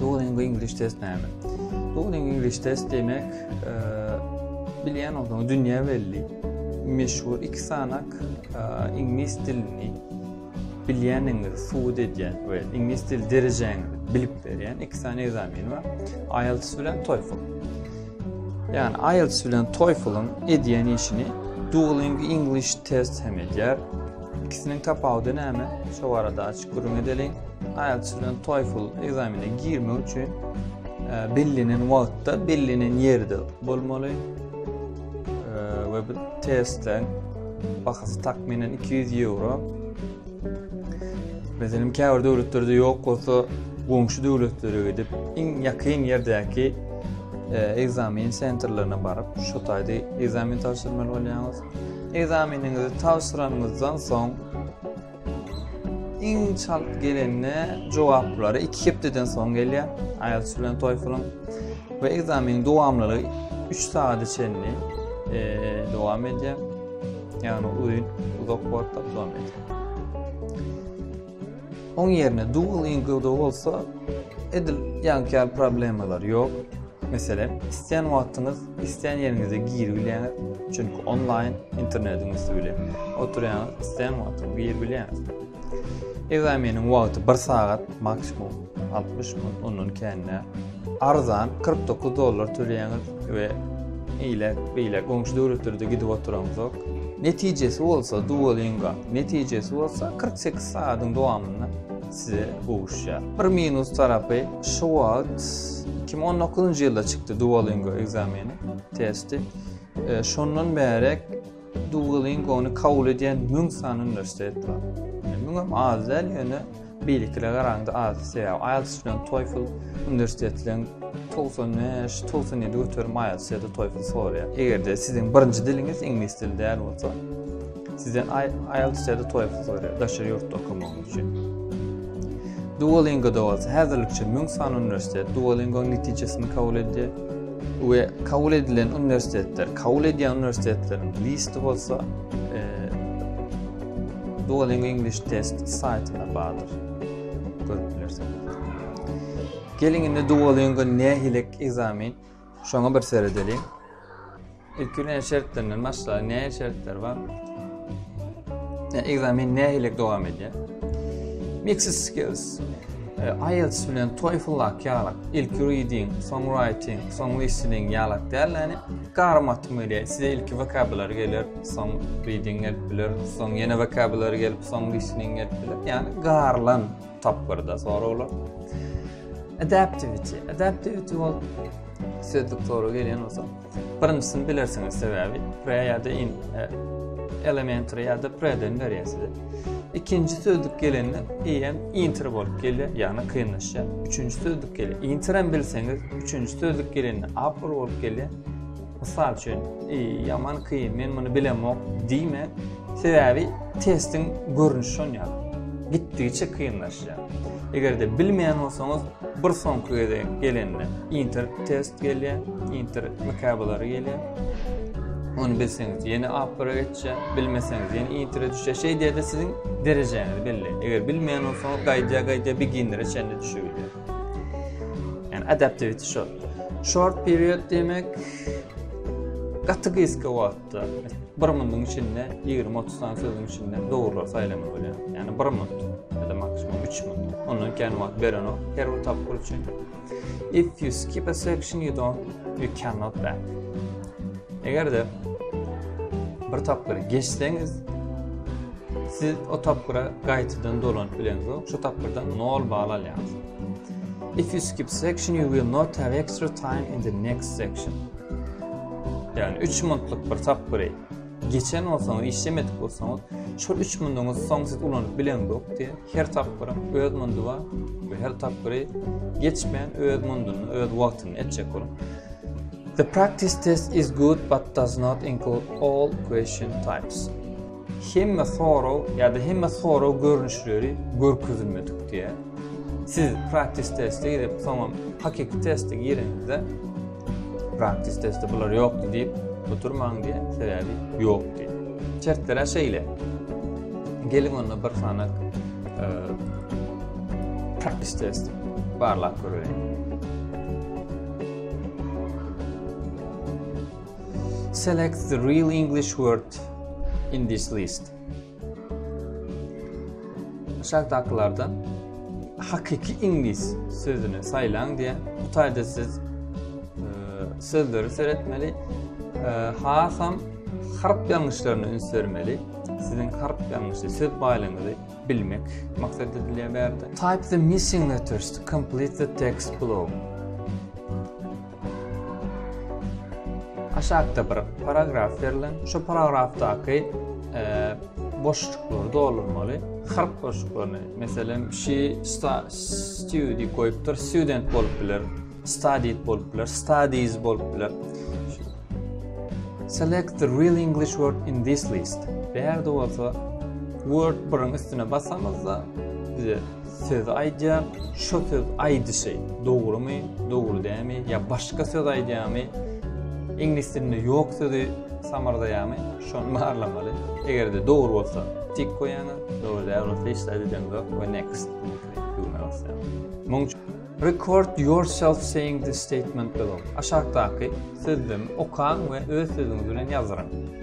Duolingo English Test näme? Duolingo English Test demek, e, bilýän bolsaň, dünýä belli, meşhur iki sanak e, iňlis dilini bilýäniňizi subut edýän we iňlis dil derejäňizi bilip berýän iki sany ekzamen bar. IELTS bilen TOEFL. Ýani IELTS bilen TOEFL-yň edýän işini Duolingo English Test hem edýär. İkisiniň tapawudy näme? Şu barada aç Gürrüň edeliň, IELTS bilen TOEFL ekzamenine girmek üçin bellenen wagtda, bellenen ýerde bolmaly we bu testleň bahasy takminen 200 euro. Meselem, käbir döwletlerde ýok bolsa, goňşy döwletlere gidip, iň ýakyn ýerdäki e, ekzamen sentrlerine baryp, şu taýda ekzamen tabşyrmaly bolýaňyz. Ekzameniňizi tabşyranyňyzdan soň Iň çalt gelende jogaplary 2 hepdeden soň gelýär. IELTS bilen TOEFL-yň we ekzameniň dowamlylygy 3 sagada çenli dowam edýär. Ýagny uzyn, uzak wagtda dowam edýär. Oň ýerine dual ingilde bolsa edil ýankar problemalar ýok. Meselem, isleýän wagtyňyz Islän ýeriňizde giri bilýäňiz, çünki onlaýn internetiň üsti bilen oturýaňyz, islän wagty giri bilýäňiz. Ekzameniň wagty bir sagat, maksimum altmyş minut, ondan kän däl. Arzan, kyrk dokuz dollar töleýäňiz we ile, beýle goňşy döwletlerde gidip oturaňyzok. Netijesi bolsa, Duolingo netijesi bolsa kyrk sekiz sagadyň dowamynda size gowuşýar. Bir minus tarapy şu wagt 2019-njy ýylda çykdy Duolingo ekzameni, testi. E, şondan bärek Duolingo-ny kabul edýän 1000 sany uniwersitet bar. Yani, Müň hem az däl, ýöne beýlekilere garanda az. Sebäbi IELTS bilen TOEFL uniwersitetleň 95, 97 göterim IELTS ýa-da TOEFL soraýar. Eger-de siziň birinji diliňiz iňlis dili däl bolsa, Sizden IELTS ya-da TOEFL soraýar, daşary ýurtda okamagyňyz üçin. Duolingo-da bolsa, häzirlikçe müň sany uniwersitet Duolingo-nyň netijesini kabul edýär we kabul edilen uniwersitetler, kabul edýän uniwersitetleriň listi bolsa e, Duolingo English Test saýtyna bardyr. Görüp bilersiňiz. Geliň indi Duolingo nähilek ekzamen, şoňa bir seredeliň. Ilki näme şertlerinden başlaýar? Näme şertler bar? Näme ekzamen nähili dowam edýär? Mixed skills. E, IELTS bilen TOEFL lak ýalak. Ilki reading, soň writing, soň listening ýalak däl, ýani garmatym gelýär. Size ilki vocabulary geler, soň reading gelip biler, soň ýene vocabulary gelip, soň listening gelip biler. Ýani garlan tapgyrda soraglar. Adaptivity. Adaptivity bol sözlük soru gelýän bolsa, Birinjisini bilersiňiz sebäbi pre ýa-da in e, elementary ýa-da preden berýär size. Ikinji sözlük gelende em inter bolup gelýär, ýagny kynlaşýar. Üçünji sözlük gelýär. Inter hem bilseňiz, üçünji sözlük gelende apple bolup gelýär. Mysal üçin, e, ýaman kyn, men muny bilemok diýme. Sebäbi testiň görnüşi şonýa. Gitdigiçe kynlaşýar. Eger-de bilmeýän bolsaňyz, bir soňky gezek gelende inter test gelýär, inter mykabylary gelýär. Ony bilseňiz ýene apbara geçýär, bilmeseňiz ýene intere düşýär. Şeý diýede siziň derejäňizi belleýär. Eger bilmeýän bolsaňyz gaýdýar gaýdýar beginnere çenli düşübilýär. Ýani adaptivity şol. Short period diýmek gaty gysga wagt. Bir minutiň içinde 20-30 sany sözüň içinde dogrular saýlamak bolýar. Ýani bir minut ya da maksimum 3 minut. Ondan kän wagt beren ok her bir tapgyr üçin. If you skip a section you don't you cannot back. Eger de bir tapgyry geçseňiz siz o tapgyra gaýtadan dolanyp bileňiz. Şu tapgyrdan 0 bal alýaňyz. If you skip section you will not have extra time in the next section. Ýagny üç minutlyk bir tapgyry geçen bolsaňyz, işlemedik bolsaňyz, şol üç minutiňiz soň siz ulanyp bileňzok diýýär. Her tapgyryň öz minuty bar we her tapgyry geçmän öz minutynda, öz wagtynda etjek boluň. The practice test is good but does not include all question types. Hemme sorag ýa-da hemme sorag görnüşleri görkezilme tükdýär. Siz praktis teste girip, soňam hakyky teste gireňizde, praktis teste bular ýokdy diýip oturmaň diýýär, sebäbi ýok diýip. Şertler-ä şeýle. Geliň onda bir sanak e, praktis test barlap göreýin. Select the real English word in this list. Aşakdakylardan hakyky iňlis sözüni saýlaň diýen. Bu taýda siz e, sözleri seretmeli. E, hasam harp ýalňyşlaryna üns bermeli. Siziň harp ýalňyşy söz baýlygyňyzy bilmek maksat edilýär bärde. Type the missing letters to complete the text below. Aşakda bir paragraf berlen. Şu paragrafdaky boşluklary doldurmaly. Harp boşluklaryny, meselem, she study goýupdyr, student bolup biler, studied bolup biler, studies bolup biler. Select the real English word in this list. Bärde bolsa word birin üstüne basamyzda bize söz aýdýar, şo söz aýdyşy dogrumy, dogry dämi ýa başga söz aýdýamy, iňlis dilinde ýok sözi samardaýamy, şony barlamaly. Eger-de dogry bolsa tik goýýaňyz, dogry däl bolsa hiç zat edemzok we next düwmä basýaňyz. Muň üçin Record yourself saying this statement below. Aşakdaky sözlemi okaň we öz sözüňiz bilen ýazdyryň.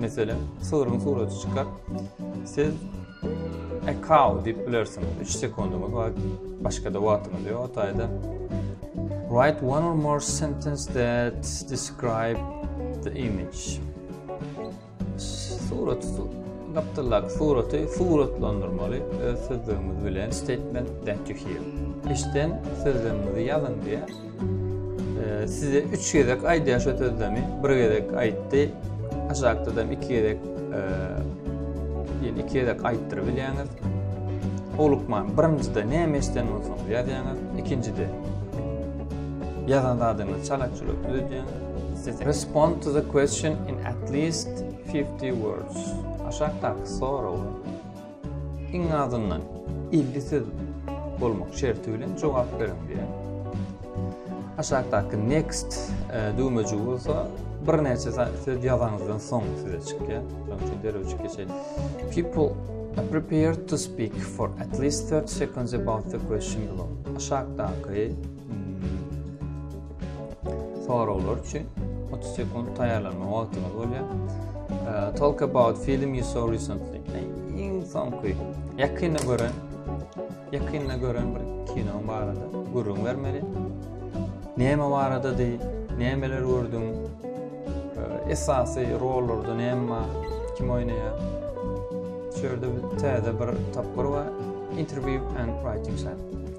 Meselem, sygryň suraty çykar. Siz a cow diýip bilersiňiz. 3 sekundyňyz bar. Başga-da wagtyňyz ýok. Otaýda write one or more sentence that describe the image. Surat gapdalak suraty suratlandyrmaly öz sözlerimiz bilen statement that you hear. Eşden sözlerimizi ýazyn diýär. Ee, size üç gezek aýdýar şu sözlemi. Bir gezek aýtdy. Aşakdadan iki gezek e, ýene iki gezek aýtdyryp bilýäňiz. Olukman birinjide näme eşden bolsaňyz ýazýaňyz, ikinjide ýazan zadyňyzy çalakçylyk düzedýäňiz. Respond to the question in at least 50 words. Aşakdaky soraw. Iň azyndan elli söz bolmak şerti bilen jogap beriň diýýär. Aşakdaky next e, düwmejigi bolsa birnäçe söz ýazaňyzdan soň size çykýar. Şonuň üçin derewçi geçeýin. People are prepared to speak for at least 30 seconds about the question below. Aşakdaky Soraglar üçin 30 sekund taýýarlanma wagtyňyz bolýar. Ee, talk about film you saw recently. Iň soňky ýakynda gören ýakynda gören bir kino barada gürrüň bermeli. Näme baradady? Nämeler gördüň? Ee, esasy rollarda näme bar? Kim oýnaýar? Şerde täze bir tapgyr bar. Interview and writing shot.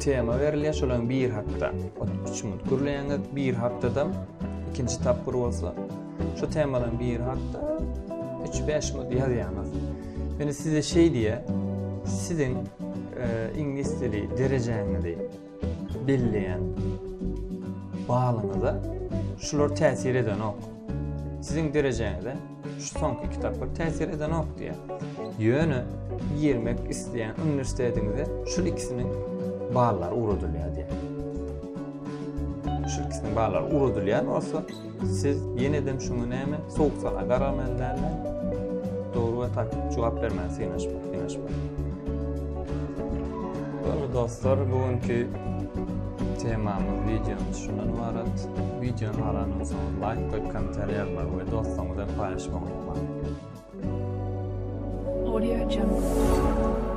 Tema berilýär şolam bir hakda. Ot üç minut gürleýäňiz, bir hakdadam ikinji tapgyr bolsa şu temadan bir hakda üç bäş minut ýazýaňyz. Ýöne size şeý diýýär, siziň e, iňlis dili derejäňizi belleýän balyňyza şular täsir edenok. Siziň derejäňize Şu soňky kitaplar täsir edenok diýýär. Ýöne girmek isleýän uniwersitetiňize şul ikisiniň ballary ugradylýar diýýär. Şul ikisiniň ballary ugradylýan bolsa, siz ýenedem şuňa näme sowuk sala garamaly dälmi? Dogry we tak jogap bermäge synaşmak, synaşmak. Dogry dostlar, bu günki Temamyz wideonyň şundan ybarat. Wideony galanyňyz soň laýk goýup komentariýa ýazmagy we doslaryňyz bilen paýlaşmagy unutmaň. Audio Jungle.